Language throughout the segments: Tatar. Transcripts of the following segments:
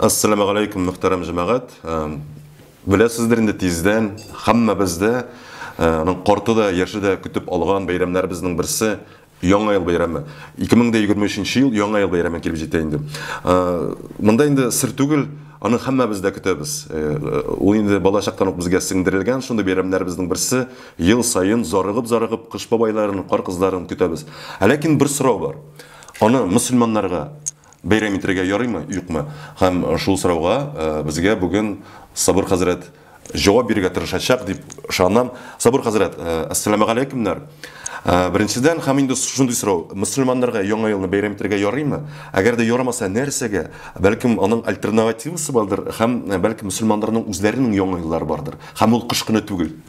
Ассаламу алейкум, мөхтәрәм җәмәгать. Беләсездер инде тиздән һәммәбез дә аның корты да, яше дә көтеп алган бәйрәмнәребезнең берсе Яңа ел бәйрәме. 2023 ел Яңа ел бәйрәме килеп җитә инде. Монда инде сер түгел, аны һәммәбез дә көтәбез. Ул инде балачактан ук безгә сеңдерелгән шундый бәйрәмнәребезнең берсе. Ел саен зарыгып-зарыгып Кыш бабайларын, Кар кызларын көтәбез. Ләкин бер сорау бар. Аны мөселманнарга, Бәйрәм итәргә ярыймы, юкмы? Һәм шул сорауга безгә бүген Сабыр хәзрәт җавап бирергә тырышачак дип ышанам. Сабыр хәзрәт, әссәламәгаләйкүмнәр. Беренчедән, һәм инде шундый сорау, мөселманнарга Яңа елны бәйрәм итәргә ярыймы? Әгәр дә ярамаса, нәрсәгә? Бәлкем, аның альтернавативасы бардыр, һәм бәлкем мөселманнарның үзләренең Яңа еллары бардыр, һәм ул кыш көне түгел.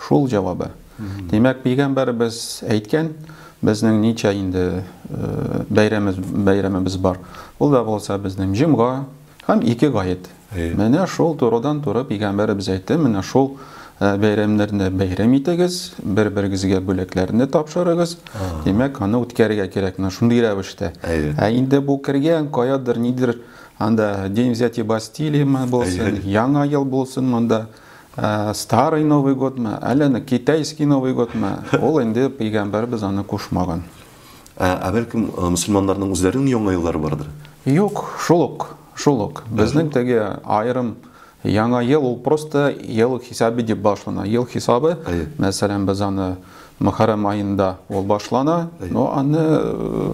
Шул җавабы. Димәк, пигамбәребез әйткән, безнең ничә инде бәйрәмебез, бәйрәмебез бар. Ул да булса безнең җомга һәм ике гает. Менә шул турыдан туры пигамбәребез әйтте, менә шул бәйрәмнәрне бәйрәм итегез, бер-берегезгә бүләкләрне тапшырыгыз. Димәк, аны үткәрергә кирәк, менә шундый рәвештә. Ә инде бу кергән каядыр, нидер анда День взятия Бастилии булсын, Яңа ел булсын монда. Ә, старый Новый годмы, әллә ни китайский Новый годмы, ул инде пәйгамбәрбез аны кушмаган. Ә, ә бәлкем э, мөселманнарның үзләренең яңа еллары бардыр? Юк, шул ук, шул ук. Безнең теге аерым яңа ел ул просто ел хисабы дип башлана. Ел хисабы, мәсәлән, без аны Мөхәррәм аенда ул башлана, но аны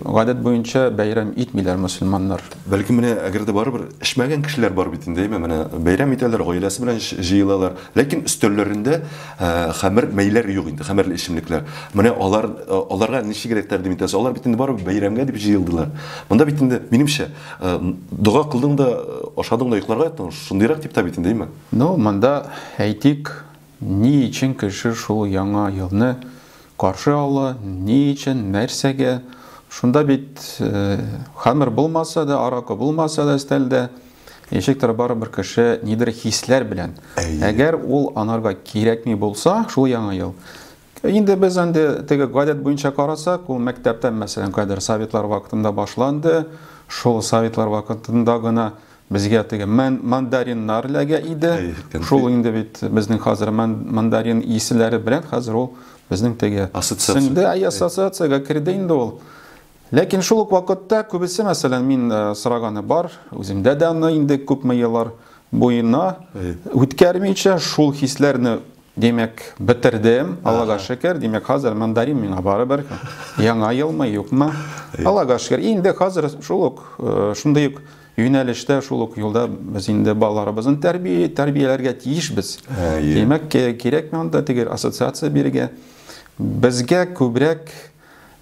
гадәт буенча бәйрәм итмиләр мөселманнар. Бәлки менә әгәр дә барыбер эчмәгән кешеләр бар бит инде, әйме, менә бәйрәм итәләр, гаиләсе белән җыелалар, ләкин өстәлләрендә хәмер мәйләр юк инде, хәмерле эчемлекләр. Менә алар, аларга ничегрәк тәкъдим итәсез? Алар бит инде барыбер бәйрәмгә дип җыелдылар. Монда бит инде, минемчә, дога кылдың да, ашадың да йокларга яттың, шундыйрак типтә бит инде, әйме? Ну, монда, әйтик, Ни өчен кеше шул яңа елны каршы ала, ни өчен, нәрсәгә? Шунда бит хамер булмаса да, аракы булмаса да өстәлдә, ничектер барыбер кеше нидер хисләр белән. Әгәр ул анарга кирәкми булса, шул яңа ел, Инде без андый теге гадәт буенча карасак, ул мәктәптән, мәсәлән, кадәр советлар вакытында башланды. Шул советлар вакытында гына безгә теге мандариннар ләгә иде. Шул инде бит безнең хәзер мандарин исләре белән хәзер ул безнең теге сеңде, ай ассоциациягә керде инде ул. Ләкин шул ук вакытта күбесе, мәсәлән, мин э, сораганы бар, үземдә дә аны инде күпме еллар буена үткәрмичә шул хисләрне Димәк, бетердем, Аллага шөкер. Димәк, хәзер мандарин миңа барыбер. Яңа елмы, юкмы? Аллага шөкер. Инде хәзер шул ук, э, шундый ук юнәлештә, шул ук юлда без инде балаларыбызны тәрбия тәрбияләргә тиешбез. Димәк, кирәк монда теге ассоциация бирергә. Безгә күбрәк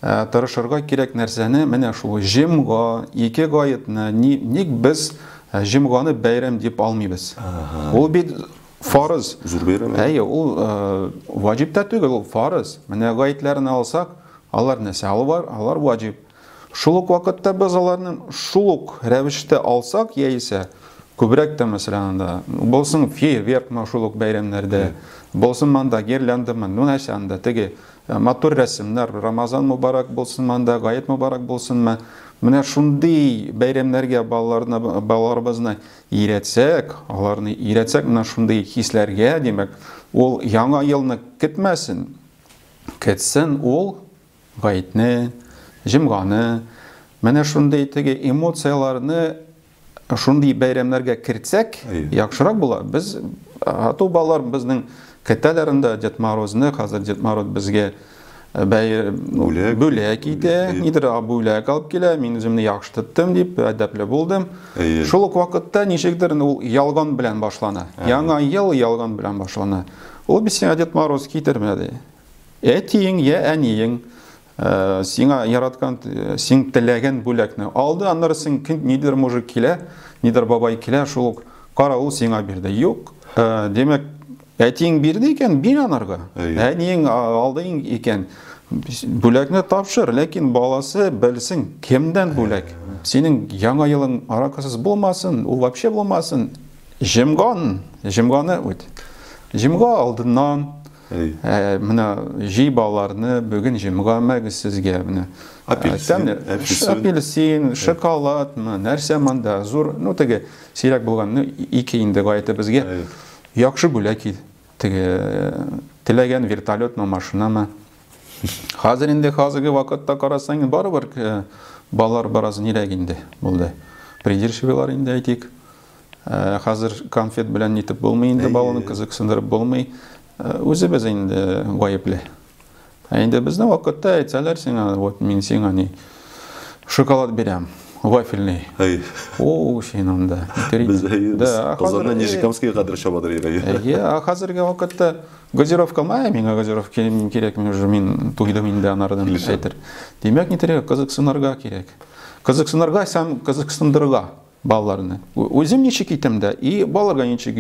э, тырышырга кирәк нәрсәне, менә шул җимга, ике гаетны, ник без э, җимганы бәйрәм дип алмыйбыз? Ул бит Фарыз. Зур бәйрәм. Әйе, ул э, ваҗиб та түгел, ул фарыз. Менә гаетләрен алсак, алар нәрсә? Алар, алар ваҗиб. Шул ук вакытта без аларны шул ук рәвештә алсак, яисә күбрәк тә мәсәлән анда булсын фейерверк шул ук бәйрәмнәрдә, булсын манда гирляндамы, ну нәрсә анда теге э, матур рәсемнәр, Рамазан мубарак булсын манда, Гает мубарак булсынмы. Менә шундый бәйрәмнәргә балаларны балаларыбызны Өйрәтсәк, аларны өйрәтсәк менә шундый хисләргә, димәк, ул яңа елны көтмәсен. Көтсен ул гаетне, җомганы, менә шундый теге эмоцияләрне шундый бәйрәмнәргә кертсәк, яхшырак була. Без ату балалар безнең көтәләр инде Дед Морозны, хәзер Дед Мороз безгә бәйр бүләк бүләк итә нидер бүләк алып килә мин үземне яхшы тоттым дип әдәпле булдым шул ук вакытта ничектер ул ялган белән башлана яңа ел ялган белән башлана ул бит сиңа дед мороз китермәде әтиең я әниең э, сиңа яраткан э, син теләгән бүләкне алды аннары син нидер мужик килә нидер бабай килә шул ук каравыл сиңа бирде юк э, демәк Әтиең бирде икән, бир анарга. Әниең алды икән, бүләкне тапшыр, ләкин баласы белсен, кемдән бүләк. Синең яңа елың аракысыз булмасын, ул вообще булмасын. Җимган, җимганы үт. Җимга алдыннан ә, менә җи балаларны бүген җимга мәгез сезгә менә. Апельсин, апельсин, апельсин шоколад, нәрсә монда зур, ну теге сирәк булган, ну ике инде гаетебезгә. Яхшы бүләк ит, теге теләгән вертолетмы, машинамы. Хәзер инде хәзерге вакытта карасаң, инде барыбер э, балалар бераз нирәк инде булды. Придирчивыйлар инде әйтик. Э, хәзер конфет белән нитеп булмый инде баланы кызыксындырып булмый. Э, үзебез инде гаепле. Ә инде безнең вакытта әйтсәләр сиңа, вот мин сиңа ни шоколад бирәм, вафельный. Әй. О, син анда. Без да, Казаннан Нижекамскига кадәр чабадыр ирәгә. Әйе, а хәзерге вакытта газировка мая, миңа газировка кирәк, кирәк мин уже мин туйдым инде анардан әйтер. Димәк, ни кирәк, кызыксынырга кирәк. Кызыксынырга һәм кызыксындырырга. Балаларны. Үзем ничек итәм дә, и балаларга ничек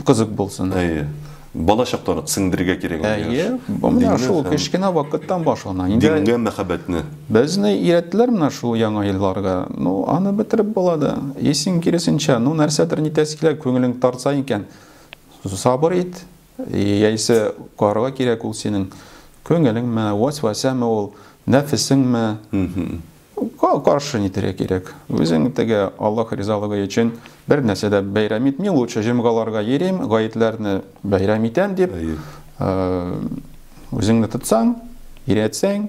кызык булсын. Әйе. Бала чактан сеңдергә кирәк. Әйе. Бу менә шул кечкенә вакыттан башлана. Инде дингә мәхәббәтне. Безне өйрәттеләр менә шул яңа елларга. Ну, аны бетереп була да. Исең киресенчә, ну нәрсәдер нитәсе килә, күңелең тарса икән, сабыр ит. Яисә карарга кирәк ул синең күңелеңме, вәсвәсәме ул, нәфесеңме? Каршы нитәргә кирәк. Үзең теге Аллаһ ризалыгы өчен бер нәрсә дә бәйрәм итми, лучше җомгаларга йөрим, гаетләрне бәйрәм итәм дип, үзеңне тотсаң, иретсәң,